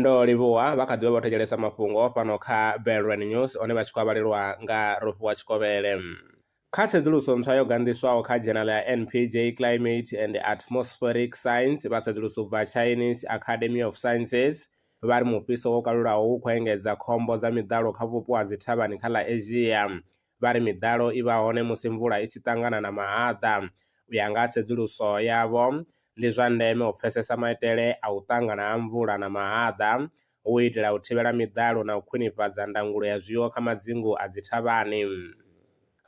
ndo livhuwa vha kha ḓivha vho thetshelesa mafhungo fhano kha Belrand News one vha tshi khou vhalelwa nga Rofhiwa Tshikovhele. Kha tsedzuluso ntswa yo ganḓiswaho kha dzhenala ya NPJ Climate and Atmospheric Science, vha tsedzuluso u bva Chinese Academy of Sciences vha ri mufhiso wo kalulaho u khou engedza khombo dza miḓalo kha vhupo ha dzithavhani kha ḽa Asia. vha ri miḓalo i vha hone musi mvula i tshi ṱangana na mahaḓa. U ya nga ha tsedzuluso yavho, ndi zwa ndeme u pfesesa maitele a u ṱangana ha mvula na mahaḓa hu u itela u thivhela miḓalo na u khwinifhadza ndangulo ya zwiwo kha madzingu a dzithavhani.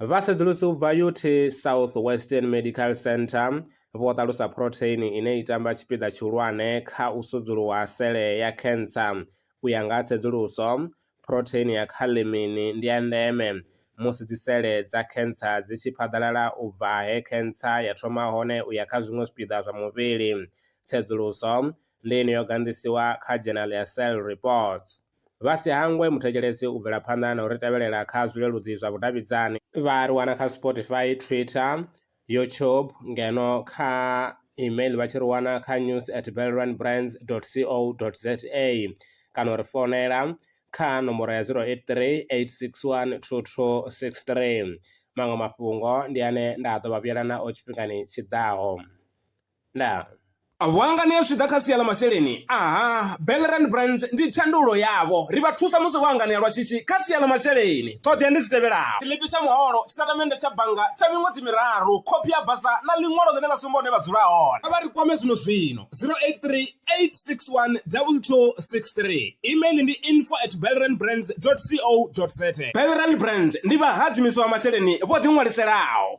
Vhasedzulusi u bva UT South Western Medical Centre vho ṱalusa phurotheini ine i tamba tshipiḓa tshihulwane kha u sudzuluwa ha sele ya khentsa. U ya nga ha tsedzuluso, Phurotheini ya khaḽemini ndi ya ndeme musi dzisele dza khentsa dzi tshi phaḓalala u bva he khentsa ya thoma hone u ya kha zwiṅwe zwipiḓa zwa muvhili. Tsedzuluso ndi ine yo ganḓisiwa kha Journal ya Cell Reports. Vha si hangwe muthetshelesi u bvela phanḓa na u ri tevhelela kha zwileludzi zwa vhudavhidzani. Vha ri wana kha Spotify, Twitter, YouTube ngeno kha email vha tshi ri wana kha news at belrun brands dot co dot za kana u ri founela kha nomboro ya zero eight three eight six one two two six three. Maṅwe mafhungo ndi ane nda ḓo vha vhuyelana o tshifhingani tshiḓaho. Ndaa. Vhuangani ha zwi ḓa kha sia ḽa masheleni, aha, Bellerand Brands ndi thandululo yavho. Ri vha thusa musi vho anganea lwa shishi kha sia ḽa masheleni. Ṱhoḓea ndi dzi tevhelaho. Tshiḽipi tsha muholo, tshitatamennde tsha bannga tsha miṅwedzi miraru, khophi ya basa na ḽiṅwalo ḽine ḽa sumba hune vha dzula hone. Kha vha ri kwame zwino-zwino, 0838612263. Email ndi info at bellerandbrands.co.za. Bellerand Brands ndi vhahadzimiswa vha masheleni vho ḓiṅwaliselaho.